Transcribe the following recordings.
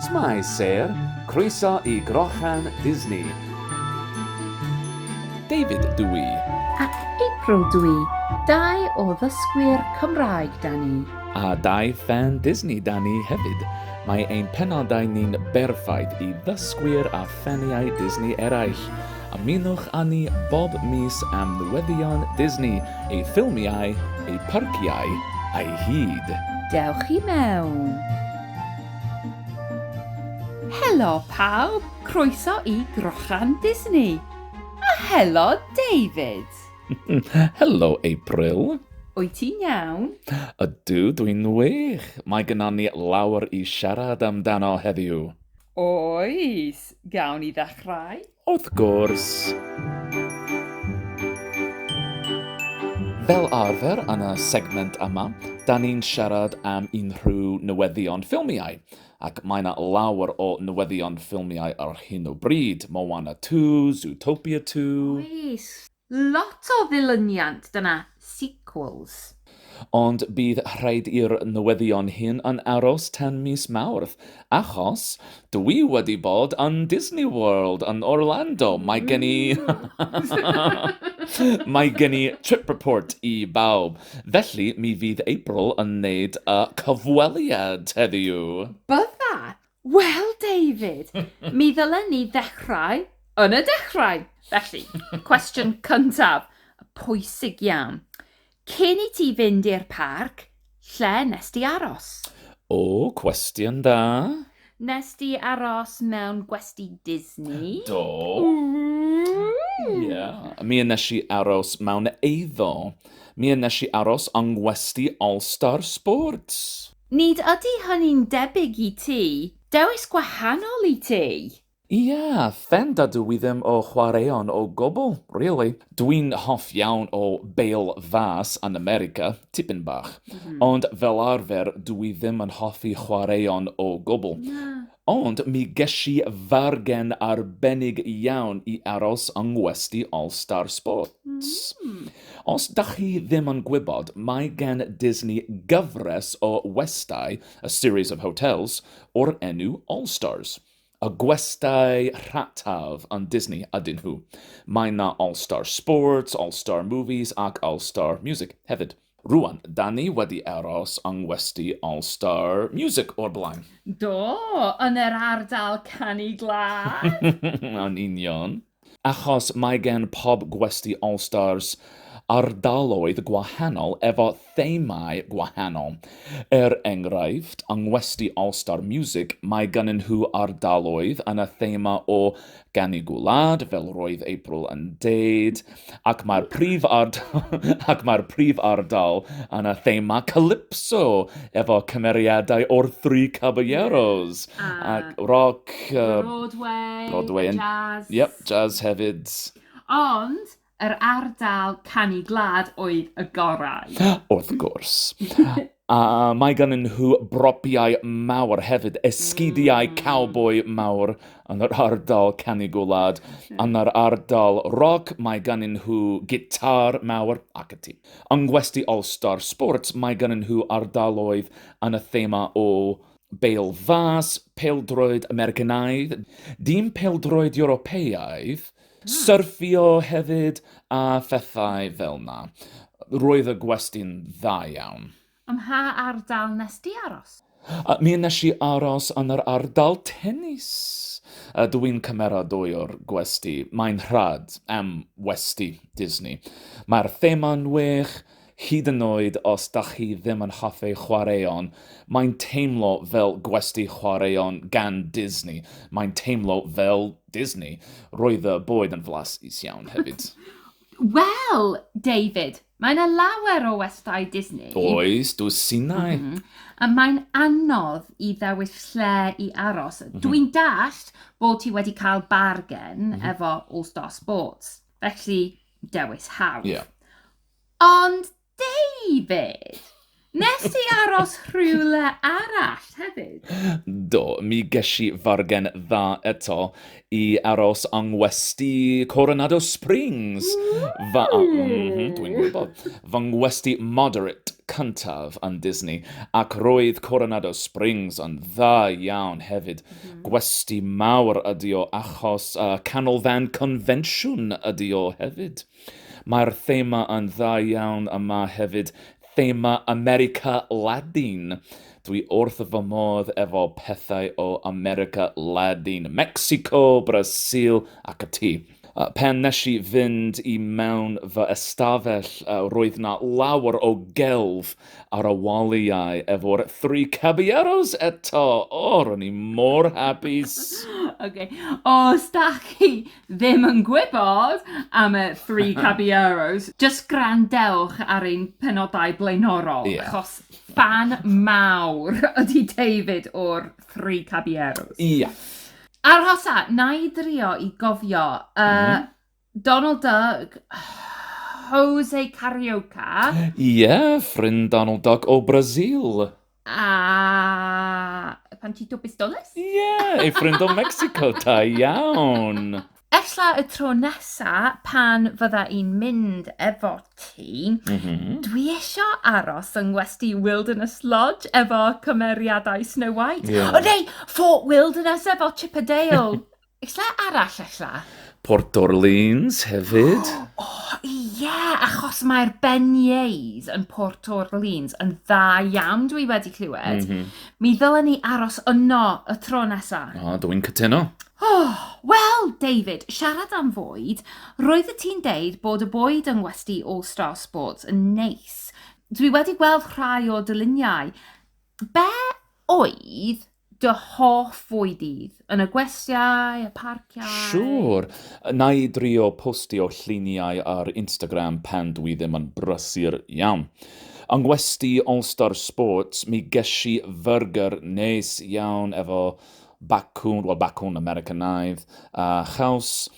Shwmae Sêr, croeso i Grochan Disney. David dw i. Ac April dw i, dau o ddysgwyr Cymraeg 'da ni. A dau ffan Disney 'da ni hefyd. Mae ein penodau ni'n berffaith i ddysgwyr a ffaniau Disney eraill. Ymunwch â ni bob mis am newyddion Disney, ei ffilmiau, ei pharciau a'i hyd. Dewch i mewn! Helo pawb, croeso i Grochan Disney! A helo David! Helo April! Wyt ti'n iawn? Ydw, dwi'n wych! Mae gynnon ni lawer i siarad amdano heddiw! Oes, gawn ni ddechrau? Wrth gwrs! Fel arfer yn y segment yma, da ni'n siarad am unrhyw newyddion ffilmiau, ac mae yna lawer o newyddion ffilmiau ar hyn o bryd. Moana 2, Zootopia 2... Oes! Lot o ddilyniant dyna sequels. Ond bydd rhaid i'r newyddion hyn yn aros tan mis Mawrth, achos dw i wedi bod yn Disney World yn Orlando, mae gen i mae gen i trip report i bawb, felly mi fydd April yn neud y cyfweliad heddiw. Bydda, Wel, David, mi ddylen ni ddechrau yn y dechrau. Felly, cwestiwn cyntaf, pwysig iawn. Cyn i ti fynd i'r parc, lle nes di aros? O, cwestiwn dda. Nes di aros mewn gwesti Disney? Do. Ie. Yeah. Mi yn nes i aros mewn eiddo. Mi yn nes i aros yng ngwesti All Star Sports. Nid ydy hynny'n debyg i ti. Dewis gwahanol i ti! Ia, fen da dw i ddim o chwaraeon o gwbl, really. Dw i'n hoff iawn o bêl fas yn America, tipyn bach. Ond fel arfer dw i ddim yn hoffi chwaraeon o gwbl. Ond mi gesh i fargen arbennig iawn i aros yng ngwesty All Star Sports. Os dach chi ddim yn gwybod, mae gen Disney gyfres o westai, a series of hotels, o'r enw All Stars. Y gwestai rhataf yn Disney ydyn nhw. Mae 'na All Star Sports, All Star Movies ac All Star Music hefyd. Rwan, da ni wedi aros yng ngwesty All Star Music o'r blaen. Do, yn yr ardal canu glân! Yn union. Achos mae gen pob gwesty All Stars ardaloedd gwahanol efo themâu gwahanol. Er enghraifft, yng ngwesty All Star Music mae gynnyn nhw ardaloedd yn y thema o gan y gwlad, fel roedd April yn deud, ac mae'r prif ac mae'r prif ardal yn y thema calypso efo cymeriadau o'r Three Caballeros yeah. uh, ac rock, uh, Broadway, Broadway and, jazz. Yep, jazz hefyd. Ond Yr ardal canu gwlad oedd y gorau. Wrth gwrs. A mae ganddyn nhw bropiau mawr hefyd, esgidiau mm. cowboi mawr yn yr ardal canu gwlad. Yn yr ardal roc, mae ganddyn nhw gitar mawr ac y ti. Yng Ngwesti All-Star Sports, mae ganddyn nhw ardaloedd yn y thema o Bêl fas, peldroed Americanaidd, dim peldroed Ewropeaidd, Syrthio hefyd a phethau fel 'na. Roedd y gwesty'n dda iawn. Ym mha ardal nes di aros? Mi nes i aros yn yr ardal tennis. Ydw i'n cymeradwyo'r gwesty? Mae'n rhad am westy Disney. Mae'r thema'n wych, Hyd yn oed os dach chi ddim yn hoffi chwaraeon, mae'n teimlo fel gwesty chwaraeon gan Disney. Mae'n teimlo fel Disney. Roedd y boed yn flas is iawn hefyd. Wel, David, mae yna lawer o westai Disney. Oes, dwsinau. Mm -hmm. A mae'n anodd i ddewis lle i aros. Mm -hmm. Dwi'n dallt bod ti wedi cael bargen mm -hmm. efo All Star Sports, felly dewis hawdd. Yeah. Ond David! Nes ti aros rhywle arall hefyd? Do, mi gesh i fargen dda eto i aros yng ngwesty Coronado Springs. Fa- a- mhm, Dwi'n gwybod. Fy ngwesty moderate cyntaf yn Disney, ac roedd Coronado Springs yn dda iawn hefyd. Gwesty mawr ydi o achos uh, canolfan confensiwn ydi o hefyd. Mae'r thema yn dda iawn a mae hefyd thema America Ladin. Dwi wrth fy modd efo pethau o America Ladin, Mexico, Brasil ac y tu. Pan nes i fynd i mewn fy ystafell roedd na lawer o gelf ar y waliau efo'r Three Caballeros eto! O, ro'n i mor hapus! Ok, os dach chi ddim yn gwybod am y Three Caballeros, jyst gwrandewch ar ein penodau blaenorol... Ie. ...achos ffan mawr ydy David o'r Three Caballeros. Ie. Arhosa, wna i drio i gofio. Yy Donald Duck, Jose Carioca... Ie, ffrind Donald Duck o Brasil. A pan ti dwbus dolus? Ie, yeah, ei ffrind o Mexico, da iawn. Efallai y tro nesa pan fydda i'n mynd efo ti, mm -hmm. dwi eisiau aros yng ngwesti Wilderness Lodge efo cymeriadau Snow White. Yeah. O neu, Fort Wilderness efo Chippendale. Lle arall ella? Port Orleans hefyd. O, ie, achos mae'r beignets yn Port Orleans yn dda iawn, dwi wedi clywed. Mhm. Mi ddylen ni aros yno y tro nesa. O, dw i'n cytuno. Oh, Wel, David, siarad am fwyd, roeddet ti'n deud bod y bwyd yng ngwesty All Star Sports yn neis. Dwi wedi gweld rhai o dy luniau. Be oedd dy hoff fwyd dydd? Yn y gwestiau, y parciau? Siŵr! Na i drio postio lluniau ar Instagram pan dwi ddim yn brysur iawn. Yng ngwesty All Star Sports, mi gesh i fyrgyr neis iawn efo bacwn, wel bacwn Americanaidd, a chaws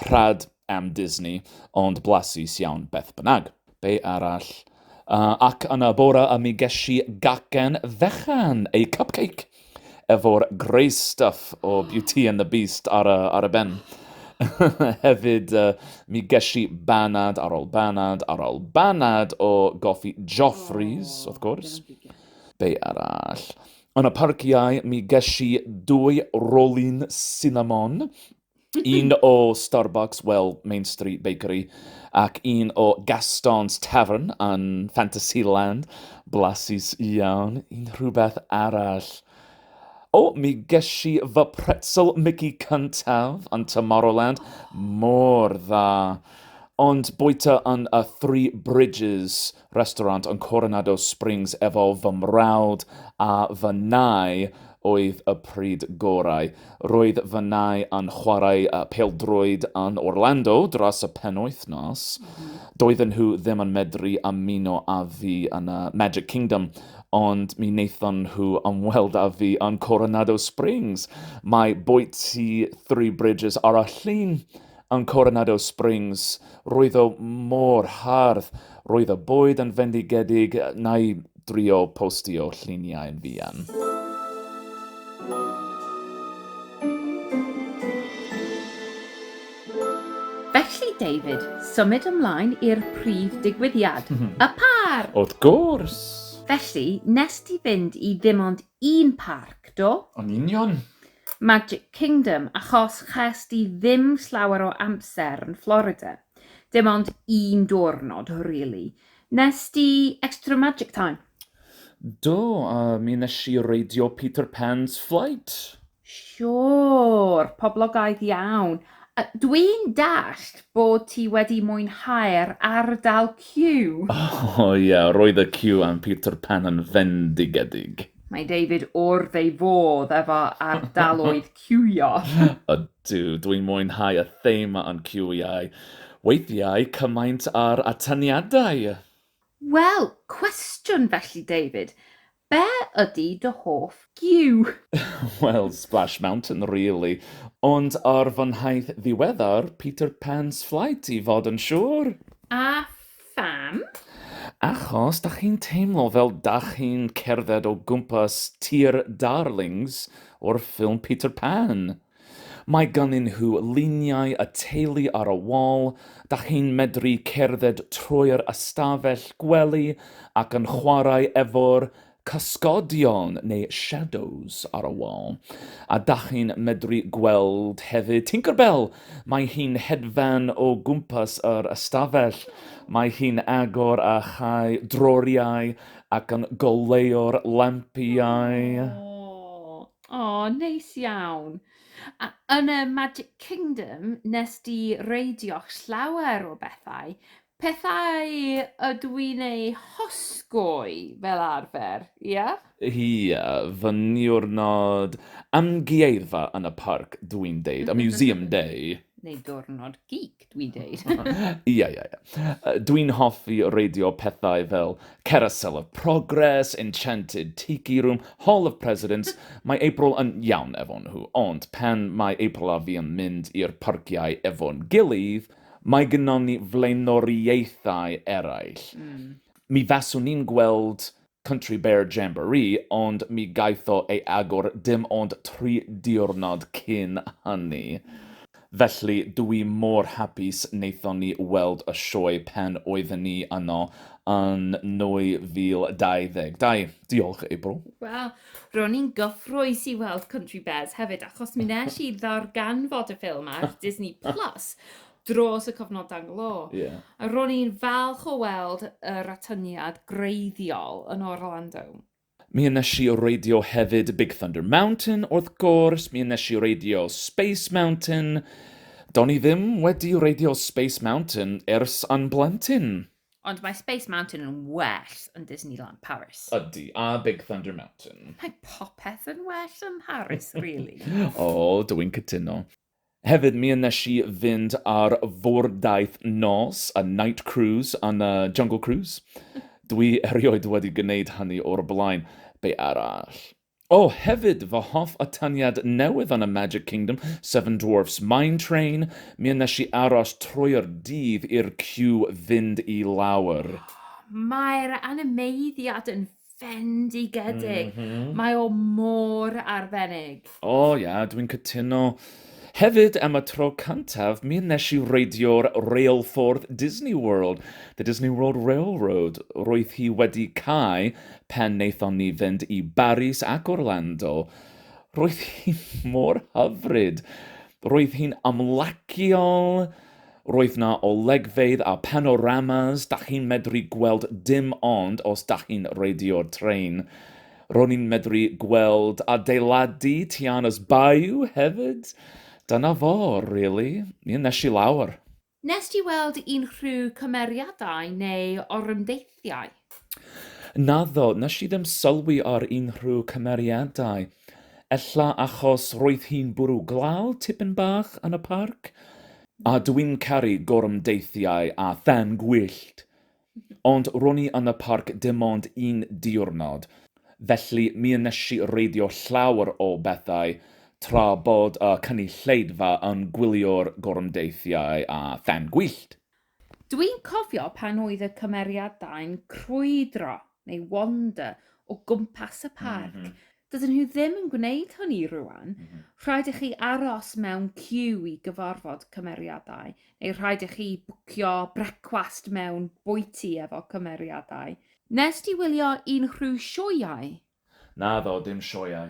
rhad am Disney, ond blasus iawn beth bynnag. Be arall? Uh, ac yn y bore y mi geshi gacen fechan, ei cupcake, efo'r grey stuff o Beauty and the Beast ar y, ar y ben. Hefyd, uh, mi geshi banad ar ôl banad ar ôl banad o goffi Joffrey's, oh, wrth gwrs. Be arall? Yn y parciau, mi geshi dwy rolyn cinnamon, un o Starbucks, well, Main Street Bakery, ac un o Gaston's Tavern yn Fantasyland. Blasus iawn, un rhywbeth arall. O, oh, mi geshi fy pretzel Mickey cyntaf yn Tomorrowland. Mor dda. Ond bwyta yn y Three Bridges, restaurant yn Coronado Springs efo fy mrawd a fy nai oedd y pryd gorau. Roedd fy nai yn chwarae pêl-droed yn Orlando dros y penwythnos. Doedden nhw ddim yn medru ymuno â fi yn y Magic Kingdom, ond mi wnaethon nhw ymweld â fi yn Coronado Springs. Mae bwyty Three Bridges ar y llun Yn Coronado Springs, roedd o mor hardd, roedd y bwyd yn fendigedig, na i drio postio lluniau yn fuan. Felly, David, symud ymlaen i'r prif digwyddiad, y parc! Wrth gwrs! Felly, nes ti fynd i ddim ond un parc, do? Yn union. Magic Kingdom achos chest di ddim slawer o amser yn Florida. Dim ond un diwrnod rili. Nes di extra magic time? Do, a mi nes i reidio Peter Pan's Flight. Siwr, poblogaidd iawn. Dwi'n dallt bod ti wedi mwynhau'r ardal Q. O ia, roedd y Q am Peter Pan yn fendigedig. Mae David wrth ei fodd efo ardaloedd ciwio. Ydw, dwi'n mwynhau y thema o'n ciwiau. Weithiau cymaint â'r atyniadau! Wel, cwestiwn felly David, be ydy dy hoff giw? Wel, Splash Mountain really, ond ar fy nhaith ddiweddar, Peter Pan's Flight i fod yn siŵr! A Pham? Achos dach chi'n teimlo fel dach chi'n cerdded o gwmpas tir Darlings o'r ffilm Peter Pan. Mae gynnyn nhw luniau y teulu ar y wal, dach chi'n medru cerdded trwy'r ystafell gwely ac yn chwarae efo'r cysgodion neu shadows ar y wal, a dach chi'n medru gweld hefyd Tinkerbell. Mae hi'n hedfan o gwmpas yr ystafell. Mae hi'n agor a chau droriau ac yn goleuo'r lampiau. O, o, neis iawn. A yn y Magic Kingdom, nes di reidio'ch llawer o bethau, Pethau ydw i'n eu hosgoi fel arfer, ia? Ia, fy niwrnod amgueddfa yn y parc, dw i'n deud, a museum day. Neu diwrnod geek, dw i'n deud. Ia, ia, ia. Dw i'n hoffi reidio pethau fel Carousel of Progress, Enchanted Tiki Room, Hall of Presidents, mae April yn iawn efo nhw, ond pan mae April a fi yn mynd i'r parciau efo'n gilydd, Mae gynnon ni flaenoriaethau eraill. Mi faswn i'n gweld Country Bear Jamboree ond mi gaeth o ei agor dim ond tri diwrnod cyn hynny. Felly dw i mor hapus wnaethon ni weld y sioe pan oedden ni yno yn 2022. Diolch, April. Wel, Ro'n i'n gyffrous i weld Country Bears hefyd, achos mi nes i ddarganfod y ffilm ar Disney Plus dros y cyfnodau nglo. Yeah. A ro'n i'n falch o weld yr atyniad greiddiol yn Orlando. Mi nes i reidio hefyd Big Thunder Mountain, wrth gwrs, mi nes i reidio Space Mountain. Do'n i ddim wedi reidio Space Mountain ers yn blentyn. Ond mae Space Mountain yn well yn Disneyland Paris. Ydy, a Big Thunder Mountain. Mae popeth yn well yn Paris, really. o, oh, dw i'n cytuno. Hefyd, mi yn nes i fynd ar fwrdaeth nos, a night cruise, a na jungle cruise. Dwi erioed wedi gwneud hynny o'r blaen. Be arall? O, hefyd, fy hoff atyniad newydd yn y Magic Kingdom, Seven Dwarfs Mine Train. Mi a wnes i aros trwy'r dydd i'r ciw fynd i lawr. Mae'r animeiddiad yn fendigedig. Mae o mor arbennig. O, ia, dwi'n cytuno. Hefyd, am y tro cyntaf, mi wnes i reidio'r reilffordd Disney World, The Disney World Railroad. Roedd hi wedi cau pan wnaethon ni fynd i Baris ac Orlando. Roedd hi mor hyfryd! Roedd hi'n amlaciol, roedd 'na olygfeydd a panoramas, 'da chi'n medru gweld dim ond os 'da chi'n reidio'r trên. Ro'n i'n medru gweld adeiladu Tiana's Bayou hefyd. Dyna fo, rili. Ie, nes i lawr. Wnest ti weld unrhyw cymeriadau neu orymdeithiau? Naddo, nes i ddim sylwi ar unrhyw cymeriadau. Ella achos roedd hi'n bwrw glaw tipyn bach yn y parc. A dw i'n caru gorymdeithiau a thân gwyllt. Ond ro'n i yn y parc dim ond un diwrnod, felly mi wnes i reidio llawer o bethau tra bod y cynulleidfa yn gwylio'r gorymdeithiau a then gwyllt. Dwi'n cofio pan oedd y cymeriadau'n crwydro neu wander o gwmpas y parc. Mm -hmm. Dydyn nhw ddim yn gwneud hynny rwan. Mm -hmm. Rhaid i chi aros mewn cyw i gyfarfod cymeriadau, neu rhaid i chi bwcio brecwast mewn bwyty efo cymeriadau. Nes ti wylio un rhyw sioeau? Naddo, dim sioeau.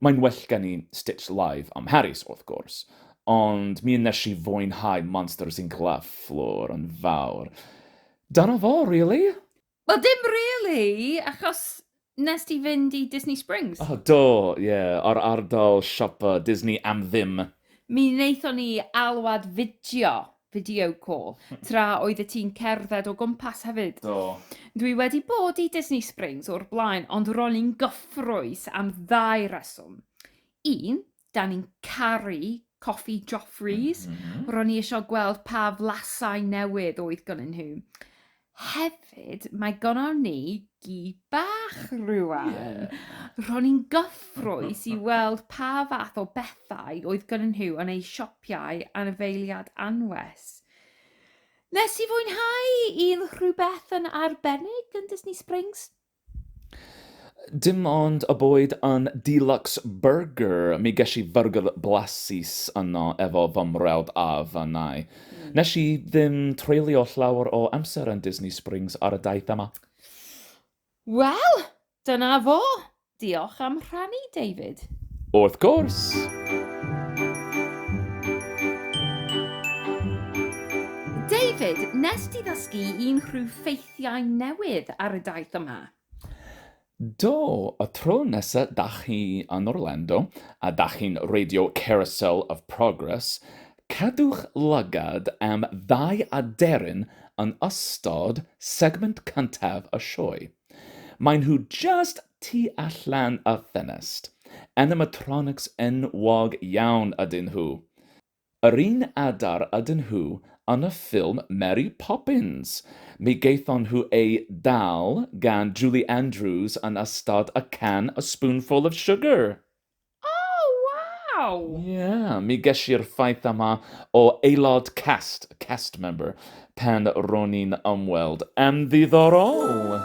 Mae'n well gen i Stitch Live am Harris, wrth gwrs, ond mi wnes i fwynhau Monsters Inc Laugh Floor yn fawr. Dyna fo, rili. Wel, dim rili, achos wnes di fynd i Disney Springs. O, do, ie, yr ardal siopa Disney am ddim. Mi wnaethon ni alwad fideo video call, tra oeddet ti'n cerdded o gwmpas hefyd. Do. Dwi wedi bod i Disney Springs o'r blaen, ond ro'n i'n gyffrous am ddau reswm. Un, da ni'n caru coffi Joffrey's, mm -hmm. ro'n i eisiau gweld pa flasau newydd oedd gynnyn nhw. Hefyd, mae gynnon ni gi bach rŵan. Yeah. Ro'n i'n gyffrous i weld pa fath o bethau oedd gynnon nhw yn eu sioppiau anifeiliad anwes. Nes i fwynhau un rhywbeth yn arbennig yn Disney Springs Dim ond y boed yn deluxe burger, mi gesh i fyrgyr blasus yno efo fy mrawd a fy nai. Nesh i ddim treulio llawer o amser yn Disney Springs ar y daith yma. Wel, dyna fo! Diolch am rhannu, David. Wrth gwrs! David, nest ti ddysgu un rhyw ffeithiau Llai newydd ar y daith yma? Do, y tro nesa da chi yn Orlando a da chi'n reidio Carousel of Progress, cadwch lygad am ddau aderyn yn ystod segment cyntaf y sioe. Maen nhw jyst tu allan y ffenest. Animatronics enwog iawn ydyn nhw. Yr un adar ydyn nhw yn y ffilm Mary Poppins. Mi gaethon nhw eu dal gan Julie Andrews yn ystod A Can, A Spoonful of Sugar. O, waw! Ie, mi gesi'r ffaith yma o aelod cast, cast member, pan ro'n i'n ymweld yn ddiddorol!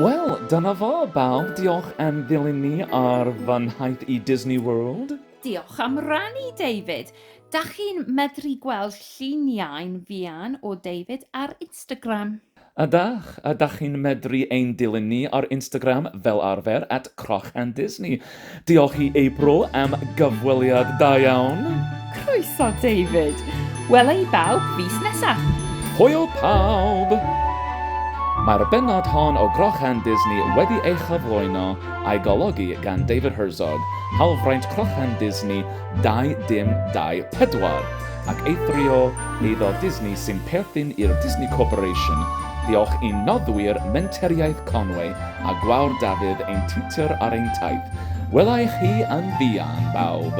Wel, dyna fo, bawb, diolch am ddilyn ni ar fy nhaith i Disney World. Diolch am rannu, David! Dach chi'n medru gweld lluniau'n fuan o David ar Instagram. Ydach, ydach chi'n medru ein dilyn ni ar Instagram fel arfer at CrochAndDisney. Diolch i April am gyfweliad da iawn. Croeso David. Wela i bawb fis nesaf. Hwyl pawb! Mae'r bennod hon o CrochAndDisney wedi ei chyflwyno a'i golygu gan David Herzog, hawlfraint CrochAndDisney, 2024 ac eithrio eiddo Disney sy'n perthyn i'r Disney Corporation, diolch i'n noddwyr Menteriaeth Conwy a Gwawr Dafydd ein tiwtor ar ein taith, wela i chi yn fuan bawb!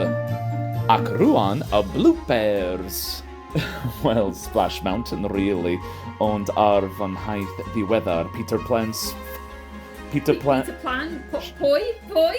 Ac rwan y bloopers! Wel, Splash Mountain really, ond ar fy nhaith ddiweddar, Peter Plans... Peter Plan... Peter Plan? Pwy? Pwy?